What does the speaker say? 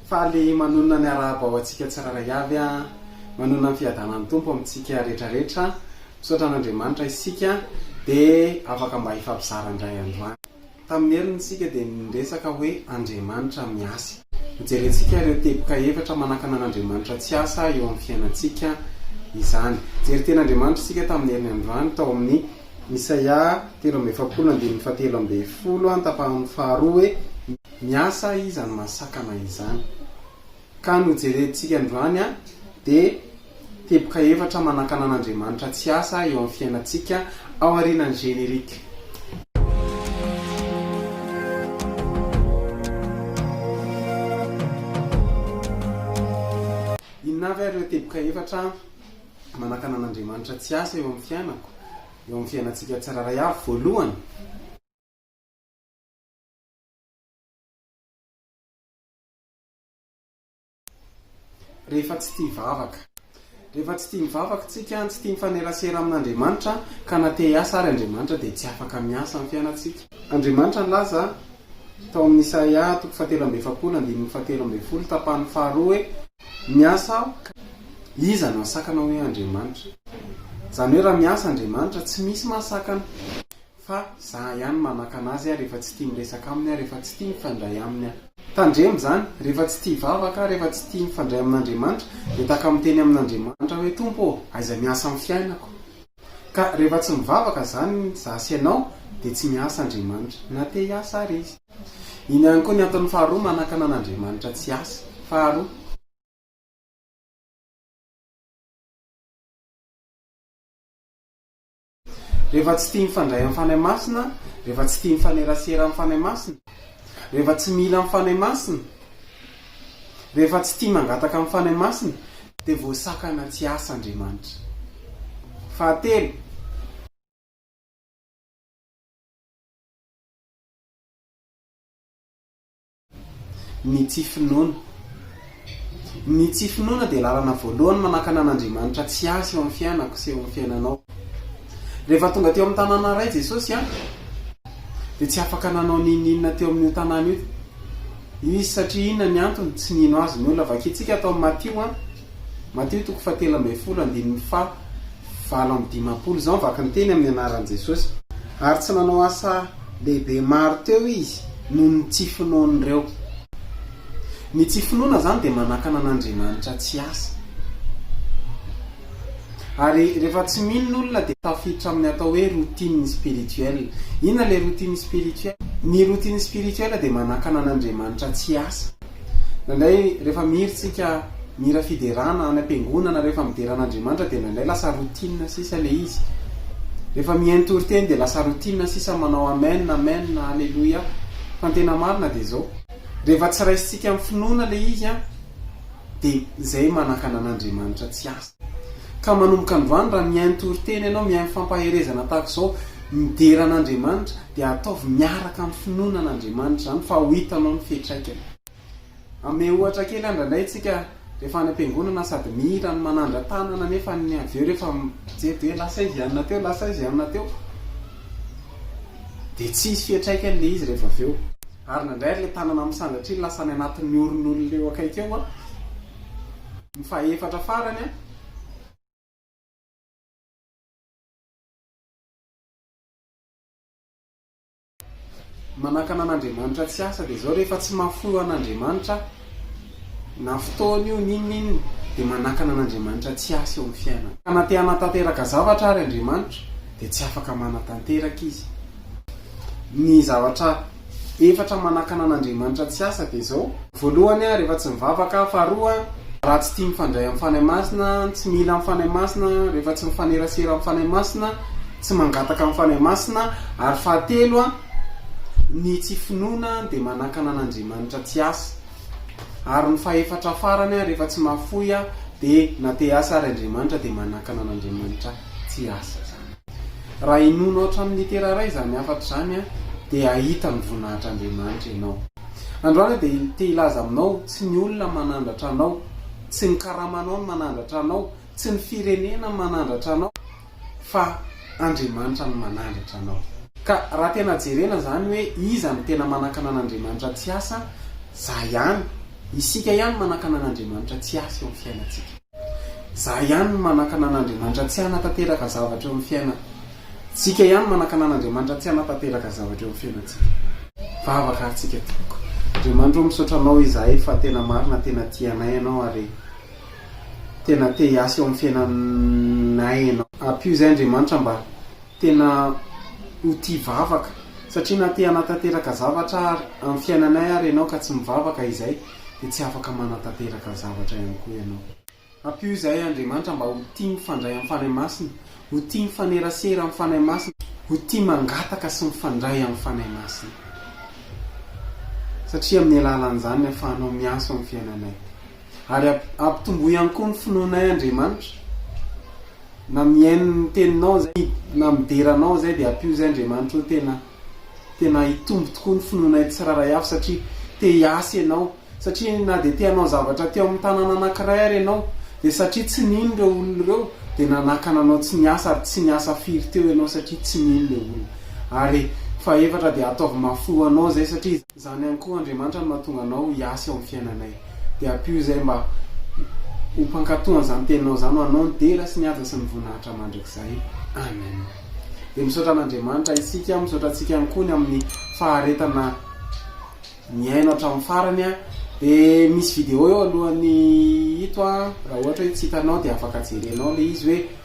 Faly manonona ny arahaba ho antsika tsirairay avy an! Manonona ny fiadanan'ny Tompo amintsika rehetrarehetra, misaotra an'Andriamanitra isika dia afaka mba hifampizara indray andro any. Tamin'ny heriny isika dia niresaka hoe Andriamanitra miasa. Hojerentsika ireo teboka efatra manakana an'Andriamanitra tsy asa eo amin'ny fiainantsika izany. Jery tena Andriamanitra isika tamin'ny heriny androany tao amin'ny Isaia telo amby efapolo andininy fahatelo ambin'ny folo an, tapahany faharoa hoe. Miasa iza no mahasakana izany? Ka no jerentsika androany dia teboka efatra manakana an'Andriamanitra tsy asa eo amin'ny fiainantsika ao aorianan'ny générique. Inona avy ary ireo teboka efatra manakana an'Andriamanitra tsy asa eo amin'ny fiainako, eo amin'ny fiainantsika tsirairay avy? Voalohany. Rehefa tsy tia vavaka. Rehefa tsy tia mivavaka isika, tsy tia mifanerasera amin'Andriamanitra, ka na te hiasa àry Andriamanitra dia tsy afaka miasa amin'ny fiainantsika. Andriamanitra nilaza tao amin'ny Isaia toko fahatelo amby efapolo andininy fahatelo ambin'ny folo tapany faharoa hoe, Miasa aho, ka iza no hasakana hoe Andriamanitra? Izany hoe raha miasa Andriamanitra, tsy misy mahasakana. Fa za ihany manakana azy aho rehefa tsy tia miresaka aminy aho, rehefa tsy tia mifandray aminy aho. Tandremo izany, rehefa tsy tia hivavaka aho, rehefa tsy tia mifandray amin'Andriamanitra, dia tahaka miteny amin'Andriamanitra hoe, Tompo ô, aiza miasa amin'ny fiainako? Ka rehefa tsy mivavaka izany za sy ianao, dia tsy miasa Andriamanitra, na te hiasa ary Izy. Iny ihany koa ny antony faharoa manakana an'Andriamanitra tsy hiasa. Faharoa. Rehefa tsy tia mifandray amin'ny Fanahy Masina, rehefa tsy tia mifanerasera amin'ny Fanahy Masina, rehefa tsy mila amin'ny Fanahy Masina, rehefa tsy tia mangataka amin'ny Fanahy Masina, dia voasakana tsy hiasa Andriamanitra. Fahatelo. Ny tsy finoana. Ny tsy finoana dia lalana voalohany manakana an'Andriamanitra tsy hasy eo amin'ny fiainako sy eo amin'ny fiainanao. Rehefa tonga teo amin'ny tanàna iray Jesosy an, dia tsy afaka nanao n'inon'inona teo amin'io tanàna io Izy. Satria inona ny antony? Tsy nino Azy ny olona. Vakintsika ato amin'ny Matio an. Matio toko fahatelo ambin'ny folo andininy faha valo amby dimampolo Izao mivaky ny teny amin'ny anaran'i Jesosy. Ary tsy nanao asa lehibe maro teo izy noho ny tsy finoan'ireo. Ny tsy finoana izany dia manakana an'Andriamanitra tsy asa. Ary rehefa tsy mino ny olona dia tafiditra amin'ny atao hoe routine spirituelle. Inona ilay routine spirituelle? Ny routine spirituelle dia manakana an'Andriamanitra tsy asa. Indraindray rehefa mihira tsika mihira fiderana any ampiangonana rehefa midera an'Andriamanitra dia indraindray lasa routine sisa le izy. Rehefa mihaino toriteny dia lasa routine sisa manao amen amen aleloia fa ny tena marina dia zao. Rehefa tsy raisintsika amin'ny finoana le izy an dia zay manakana an'Andriamanitra tsy azo. Ka manomboka androany raha mihaino toriteny ianao, mihaino fampaherezana tahaka izao, midera an'Andriamanitra, dia ataovy miaraka amin'ny finoana an'Andriamanitra izany fa ho hitanao ny fiatraikany. Hanome ohatra kely aho indraindray tsika rehefa any am-piangonana sady mihira no manandra-tanana nefa ny avy eo rehefa mijery dia hoe lasa izy hianona teo, lasa izy hianona teo, dia tsy hisy fiatraikany ilay izy rehefa avy eo. Ary indraindray ary ilay tanana misandratra iny lasa any anatin'ny oron'olona eo akaiky eo an! Ny fahefatra farany an. Manakana an'Andriamanitra tsy asa dia zao rehefa tsy mahafoy an'Andriamanitra na fotoana io n'inon'inona dia manakana an'Andriamanitra tsy asa eo amin'ny fiainana. Ka na te hanatanteraka zavatra ary Andriamanitra dia tsy afaka manatanteraka izy. Ny zavatra efatra manakana an'Andriamanitra tsy asa dia izao, voalohany rehefa tsy mivavaka aho, faharoa raha tsy tia mifandray amin'ny Fanahy Masina, tsy mila ny Fanahy Masina, rehefa tsy mifanerasera amin'ny Fanahy Masina, tsy mangataka ny Fanahy Masina, ary fahatelo ny tsy finoana dia manakana an'Andriamanitra tsy asa, ary ny fahefatra farany rehefa tsy mahafoy aho dia na te-hiasa ary Andriamanitra dia manakana an'Andriamanitra tsy asa izany. Raha hinoanao hatramin'ny litera iray izany hafatra izany, dia hahita ny voninahitr'Andriamanitra ianao. Androany aho dia te hilaza aminao, tsy ny olona no manandratra anao, tsy ny karamanao no manandratra anao, tsy ny firenena no manandratra anao, fa Andriamanitra no manandratra anao. Ka raha tena jerena izany hoe iza no tena manakana an'Andriamanitra tsy hiasa, za ihany, isika ihany manakana an'Andriamanitra tsy hiasa eo amin'ny fiainantsika. Za ihany no manakana an'Andriamanitra tsy hanatanteraka zavatra eo amin'ny fiaina tsika ihany manakana an'Andriamanitra tsy hanatanteraka zavatra eo amin'ny fiainantsika. Vavaka ary tsika tompoko. Andriamanitra o misaotra anao izahay fa tena marina tena tia anay ianao ary tena te hiasa eo amin'ny fiainanay ianao. Ampio izay Andriamanitra mba tena ho tia vavaka satria na te hanatanteraka zavatra ary amin'ny fiainanay ary ianao ka tsy mivavaka izay. dia tsy afaka manatanteraka ny zavatra ihany koa ianao. Ampio izahay Andriamanitra mba ho tia mifandray amin'ny Fanahy Masina, ho tia mifanerasera amin'ny Fanahy Masina, ho tia mangataka sy mifandray amin'ny Fanahy Masina. Satria amin'ny alalan'izany ny ahafahanao miasa ao amin'ny fiainanay. Ary ampitomboy ihany koa ny finoanay Andriamanitra, na mihaino ny teninao izay, na midera anao izay dia ampio izay Andriamanitra oh, tena. Tena hitombo tokoa ny finoanay tsirairay avy satria te hiasa ianao. Satria na dia te hanao zavatra teo amin'ny tanàna anankiray ary ianao, dia satria tsy nino ireo olona ireo, dia nanakana anao tsy niasa ary tsy niasa firy teo ianao satria tsy nino ilay olona. Ary fahefatra dia ataovy mafy ho anao izay satria. Izany ihany koa Andriamanitra no mahatonga anao hiasa eo amin'ny fiainanay. Dia ampio izay mba ho mpankatò an'izany teninao izany ho anao ny dera sy ny haja sy ny voninahitra mandrakizay. Amen. Dia misaotra an'Andriamanitra isika, misaotra antsika ihany koa ny amin'ny faharetana nihaino hatramin'ny farany. Dia misy video eo alohan'ny ito raha ohatra hoe tsy hitanao dia afaka jerenao ilay izy hoe.